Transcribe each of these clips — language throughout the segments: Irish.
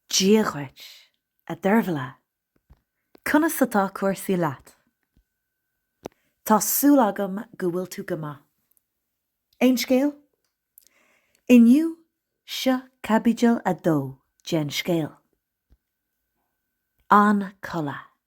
Dia dhuit, a Deirbhile. Conas atá cúrsaí leat? Tá súil agam go bhfuil tú go maith. Aon scéal? Inniu, seo caibidil a dó den scéal. An codladh.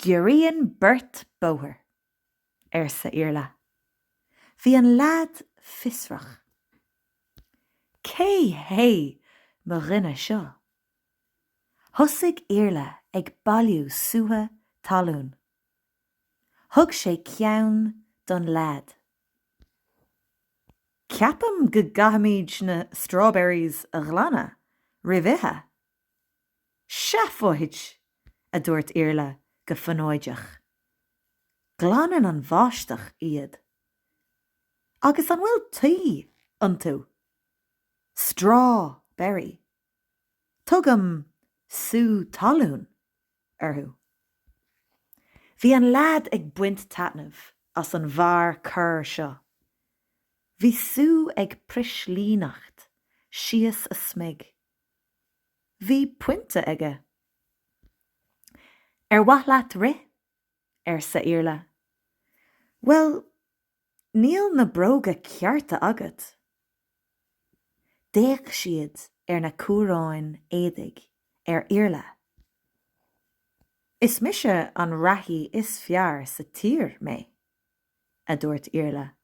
Giorraíonn beirt bóthar, arsa Iarla. Bhí an leaid fiosrach. Cé hé mo dhuine seo? Thosaigh Iarla ag bailiú sútha talún. Thug sé ceann don leaid. Ceapaim go gcaithfimid na strawberries a ghlanadh roimh ithe. Seafóid! a dúirt Iarla go fonóideach. Glanann an bháisteach iad. Agus an bhfuil tuí iontu? Straw berry. Tugaim sú talún orthu. Bhí an leaid ag baint taitneamh as an bhfear corr seo. Bhí sú ag prislíneacht síos a smig. Bhí pointe aige. Ar mhaith leat rith? arsa Iarla. Bhuel, níl na bróga cearta agat. D'fhéach siad ar na cuaráin éadaigh ar Iarla. Is mise an reathaí is fearr sa tír mé. a dúirt Iarla.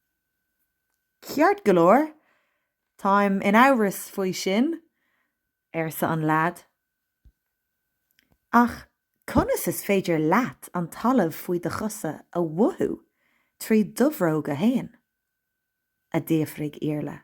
Ceart go leor, táim in amhras faoi sin, arsa an leaid. Ach conas is féidir leat an talamh faoi do chosa a mhothú trí do bhróga fhéin? a d'fhiafraigh Iarla.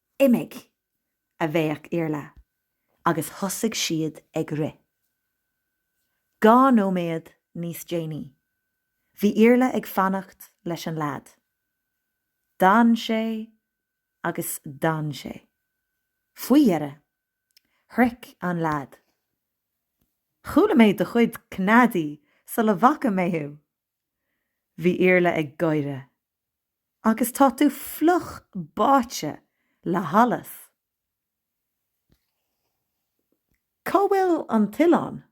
Imigh! a bhéic Iarla agus thosaigh siad ag rith. Dhá nóiméad níos déanaí, bhí Iarla ag fanacht leis an leaid. D'fhan sé agus d'fhan sé. Faoi dheireadh, shroich an leaid. Chuala mé do chuid cneadaí sula bhfaca mé thú! Bhí Iarla ag gáire. Agus tá tú fliuch báite le hallas. Cá bhfuil an t-oileán?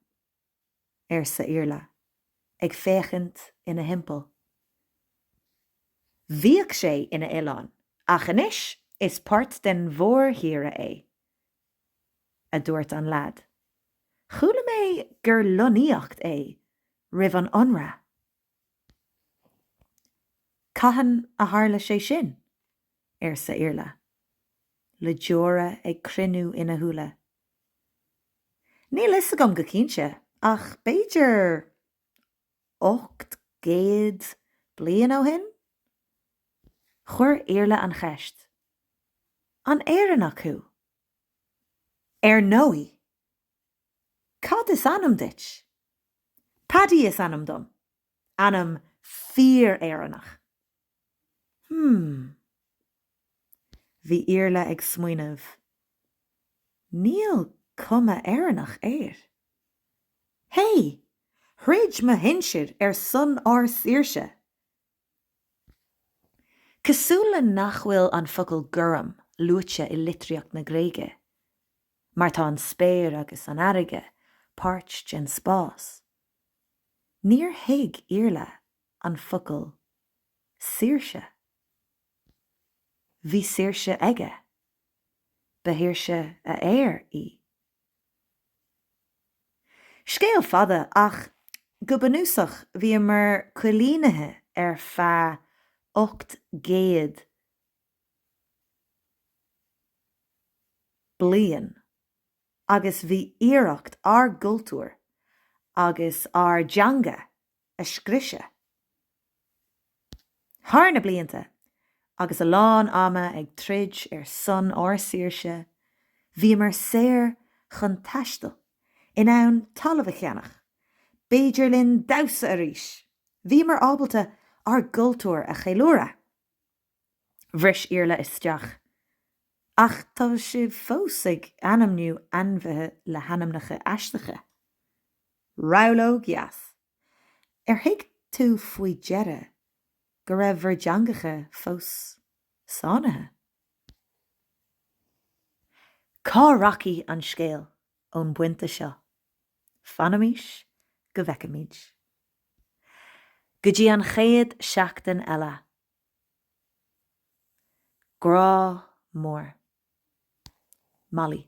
arsa Iarla, ag féachaint ina thimpeall. Bhíodh sé ina oileán, ach anois is páirt den mhórthír é. a dúirt an lead. Chuala mé gur lonnaíocht é roimh an ionradh. Cathain a tharla sé sin? arsa Iarla, le deora ag cruinniú ina shúile. Níl fhios agam go cinnte, ach b'fhéidir ocht gcéad bliain ó shin? Chuir Iarla an cheist. An Éireannach thú? Ar ndóigh. Cad is ainm duit? Paddy is ainm dom. Ainm fíor-Éireannach. Hmm. Bhí Iarla ag smaoineamh. Níl cuma Éireannach air. Hey! Throid mo shinsir ar son ár saoirse! Cosúil le nach bhfuil an focal 'gorm' luaite i litríocht na Gréige, mar tá an spéir agus an fharraige páirt den spás, níor thuig Iarla an focal 'saoirse'. Bhí saoirse aige. Ba shaoirse a aer í. Scéal fada, ach go bunúsach bhíomar coilínithe ar feadh 800 bliain agus bhí iarracht ár gcultúr agus ár dteanga a scriosadh. Thar na blianta, agus a lán ama ag troid ar son ár saoirse, bhíomar saor chun taistil, in ann talamh a cheannach, b'fhéidir linn damhsa arís! Bhíomar ábalta ár gcultúr a cheiliúradh. Bhris Iarla isteach. Ach tá sibh fós ag ainmniú ainmhithe le hainmneacha aisteacha. Reabhlóid dheas. Ar thuig tú faoi dheireadh go raibh bhur dteangacha fós sáinnithe? Cá rachaidh an scéal ón bpointe seo? Fanaimis go bhfeicfimid. Go dtí an chéad seachtain eile, Grá mór. Molly.